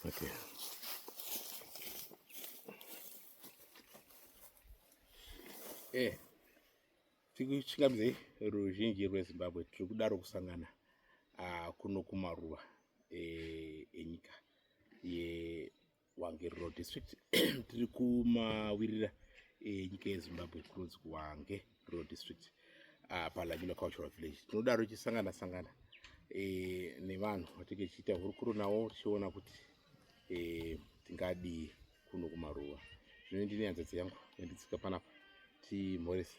Okay. Eh, tikusvika mzei ruzhinji rwezimbabwe tiri kudaro kusangana uh, kuno kumaruva eh, enyika ye Hwange Rural District tiri kumawirira enyika yeZimbabwe kunonzi kuHwange Rural District ah, paLanyula Cultural Village tinodaro tichisangana sangana e, nevanhu vatinge tichiita hurukuro navo tichiona kuti e, tingadii kuno kumaruva zvino ndine hanzvadzi yangu yanditsika panapa timhorese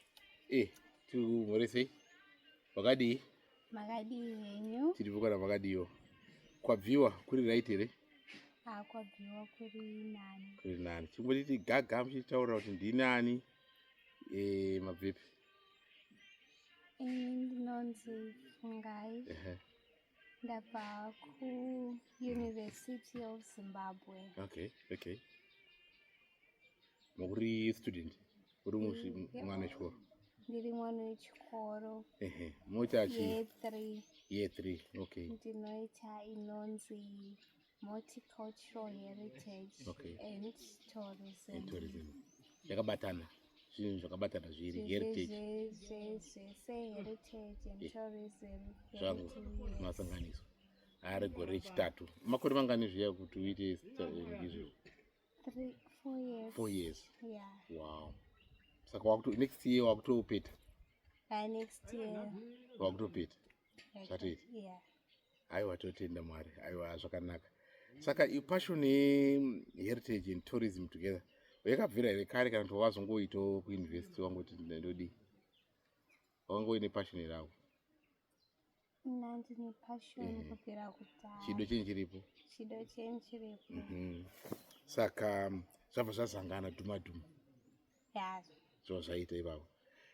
e, timhoresei wakadii makadii henyu tiri vukana makadiiwo kwabviwa kuri right here ah, kwabviwa kuri nani kuri nani chimbotiti gaga muchitaurira kuti ndinani e, eh, mabvipi eh, ndinonzi fungai uh -huh. ndabva kuuniversity of zimbabwe okay okay muri student uri musi mwana wechikoro ndiri mwana wechikoro ehe moita chi year 3 year 3 okay ndinoita inonzi multicultural heritage okay. and tourism and tourism yakabatana zvinhu zvakabatana zviri heritage zvese heritage and eh. tourism zvangu masanganiswa ari gore rechitatu makore mangani zviya kuti uite izvozvo Three, four years. Four years. Yeah. Wow. Saka wakuto next year wakutopeta. Uh, next year. Wakutopeta. Zvatoita. Yeah. Aiwa totenda Mwari. Aiwa zvakanaka. Saka i passion heritage and tourism together. Yakabvira here kare kana kuti wazongoitawo kuuniversity wangoti ndodii? Wangoine passion here awo? ndine passion mm. kubvira kudhaya chido chenyu chiripo chido chenyu chiripo mm -hmm. saka um, zvabva zvazangana dhuma dhuma ya zvava zvaita ipapo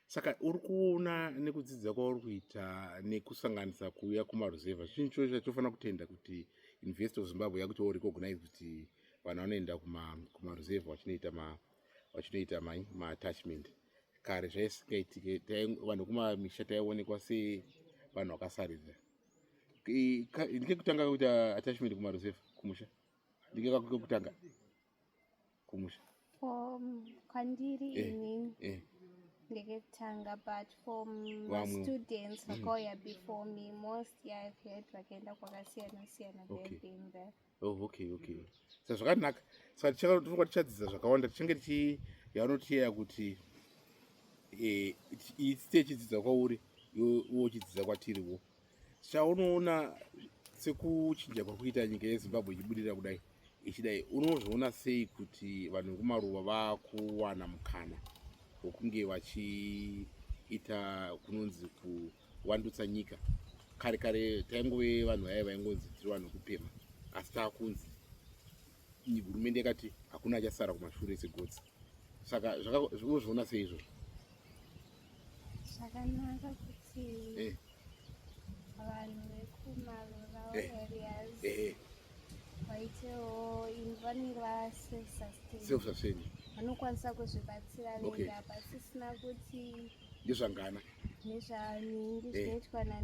saka uri kuona nekudzidza kwauri kuita nekusanganisa kuuya kumaruzevha chinhu choo chatofanira kutenda kuti university of zimbabwe yakuti wo recognize kuti vanhu vanoenda kumaruzevha vachinoita ma, ma vachitoita mai maatachment kare zvaisingaitike vanhu kumamisha taionekwa se vanhu vakasaridza ndikekutanga kuita attachment kumaruzevha kumusha ndikekakutanga kumusha kwandiri eh, ini eh. ndikekutanga but for mastudents mm. vakauya before me most yaakuyaiti vakaenda kwakasiyana siyana theybeing there oh, okay okay sa zvakanaka saka tichakatofa tichadzidza zvakawanda tichange tichi yavanotiyeya kuti eh, iyi tsitsi yechidzidza kwauri iwo chidzidza kwatiriwo chaunoona sekuchinja kwakuita nyika yezimbabwe ichibudirira kudai ichidai unozviona sei kuti vanhu vekumaruva vakuwana mukana wekunge vachiita kunonzi ku, ku wandutsa nyika kare kare taingove vanhu vaye vaingonzi tiri vanhu kupema asi taakunzi hurumende yakati hakuna achasara kumashure segotsi saka zvakazviona sei izvozvo zvakanaka kuti eh. vanhu vekumarural eh. areas eh, vaitewo vanenge vaself-sustain vanokwanisa kuzvibatsira vega pasisina kuti ndezvangana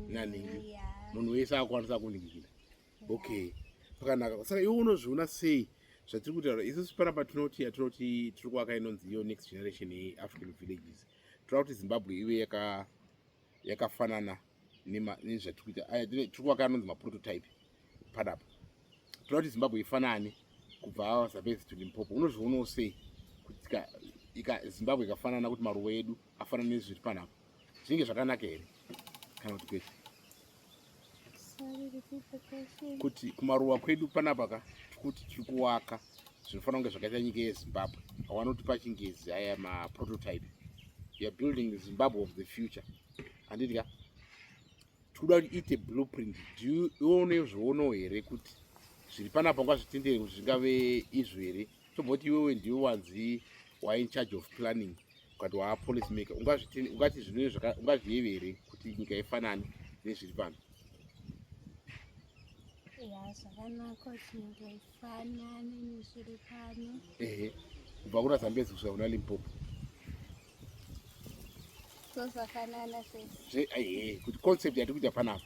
nanhingi eh, munhu wese akwanisa kuningikira okay pakanaka saka iwe unozviona sei zvatiri kutaura isusu panapa tinoti yatinoti tiri kuvaka inonzi iyo next generation yeafrican villages tinoda kuti zimbabwe ive yakafanana yaka nezvatiri kuita aya tiri kuvaka anonzi maprototype padapa toda kuti zimbabwe ifanane kubva avasabesi to limpopo unozvionawo sei kuti ika zimbabwe ikafanana kuti maruwa edu afanana nezviri panapa zvinge zvakanaka here kana kuti kwete kuti kumaruwa kwedu panapa ka tikuti tiri kuwaka zvinofanira kunge zvakaita nyika yezimbabwe awanoti pachingezi aya maprototype youare building the zimbabwe of the future handiti ka tikuda kuti iite blueprint dione zvoonawo here kuti zviri panapa ngazvitendere kuti zvingave izvo here tomboti iwewe ndiwe wanzi wain charge of planning ukati waa policy maker ungati zvinungazviyeve here kuti nyika ifanane nezviri pano Panani nishiri pano. Ehe. Kubva kuna Zambezi kusvika kuna Limpopo. Tosafanana sese. Ehe, kuti concept yatiri kuita panapa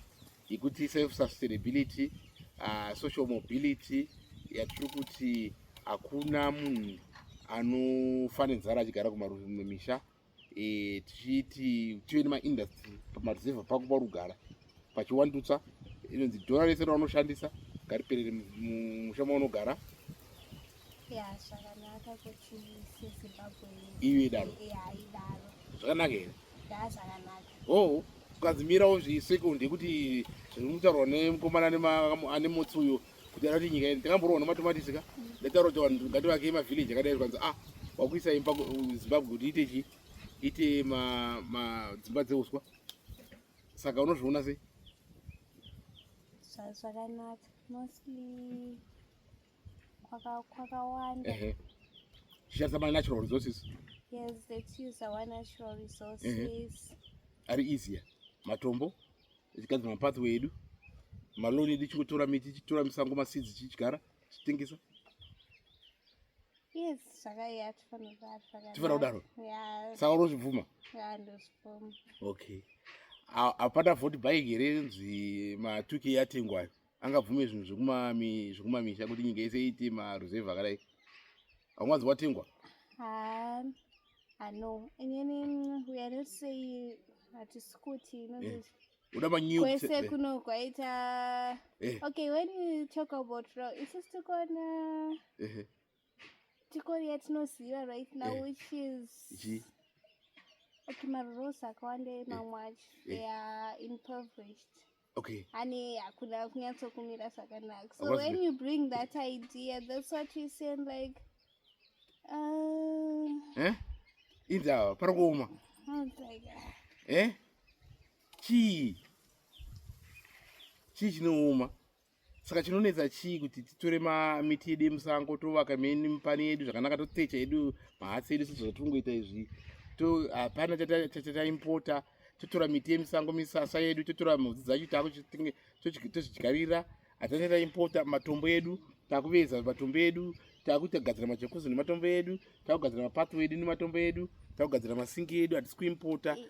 yekuti self sustainability, uh, social mobility yatiri kuti hakuna munhu anofanenzara achigara kumarudzi mumwe misha e, tichiiti tive nemaindustry pamareserva pako parugara pachiwandutsa inonzi dhora rese raunoshandisa ngariperere musha maunogara iyo idaro zvakanaka here oh ukazimirawo zvisekondi yekuti zviri kutaurwa nemukomana ane motsi uyo kudara kuti nyika yedu takamborowa nematomatisi ka ndataura kuti vanhu ngativake mavhileji akadai zvikanzi ah wakuisa imba zimbabwe kuti ite chii ite madzimba dzeuswa saka unozviona sei zvakanaka mostly kwakawanda zvishandisa ma natural resources yes let's use our natural resources ari easier matombo tichigadzira mapathway edu maloni edu tichingotora miti tichitora misango masidzi tichidyara tichitengesa yes zvakaiya tifanira kudaro saka unozvibvuma okay hapana voti bike here nzi matuki yatengwayo angabvume zvinhu zvekumamisha kuti nyika yese iite maruzevhu akadai haunganzi watengwa hatisi kuti eh, uda manyukwese eh. kuno kwaita eh. okay when you talk about row isu tikuona tikori yatinoziva right now eh. which is G. okay marurosa akawanda eh. mamwe acho eh. ea impoverished okay ane hakuna kunyatsokumira zvakanaka so What's when you bring that idea that's what we saying like uh, eh? inzi awa pari kuoma eh chii chii chinooma saka chinonetsa chii kuti titore mamiti yedu yemusango tovaka meni mipani yedu zvakanaka totecha yedu mahatsi edu sezvo zvatinongoita izvi hapana chataimpota totora miti yemisango misasa yedu totora mhodzi dzacho taako tozvidyarira hatana taimpota matombo edu takuveza matombo edu takuita kugadzira majokosi nematombo edu takugadzira mapatwo edu nematombo edu takugadzira masingi edu hatisi kuimpota e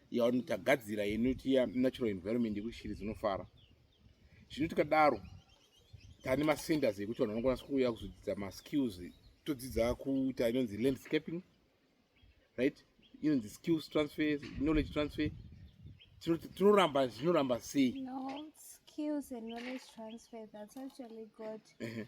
yavanoti tagadzira inoti ya natural environment yekuti shiri dzinofara zvino tikadaro tane macenters ekuti vanhu vanokwanisa kuuya kuzodzidza maskills todzidza kuita inonzi landscaping right inonzi skills transfer knowledge transfer tinoramba zvinoramba sei no, skills and knowledge transfer that's actually good uh -huh.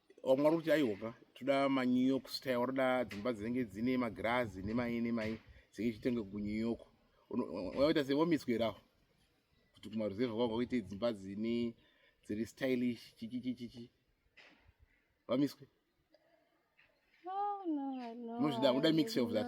vamwe vari kuti aihoka toda manew york style vanoda dzimba dzinenge dzine magirazi nemai nemai dzinge ichitenge kunew york vaita se vomiswerawo kuti kumaruzevha kwavo vakuite dzimba dzine dziri stylish chichichichichi vamiswe muzvida unoda mixture of that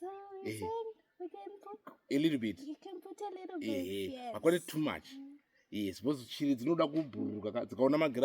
So you Eh. saying we can put, a little bit you can put a little bit. ehe yes. makwane too much Mm. yes because shiri dzinoda kubhururuka ka- dzikaona magirazi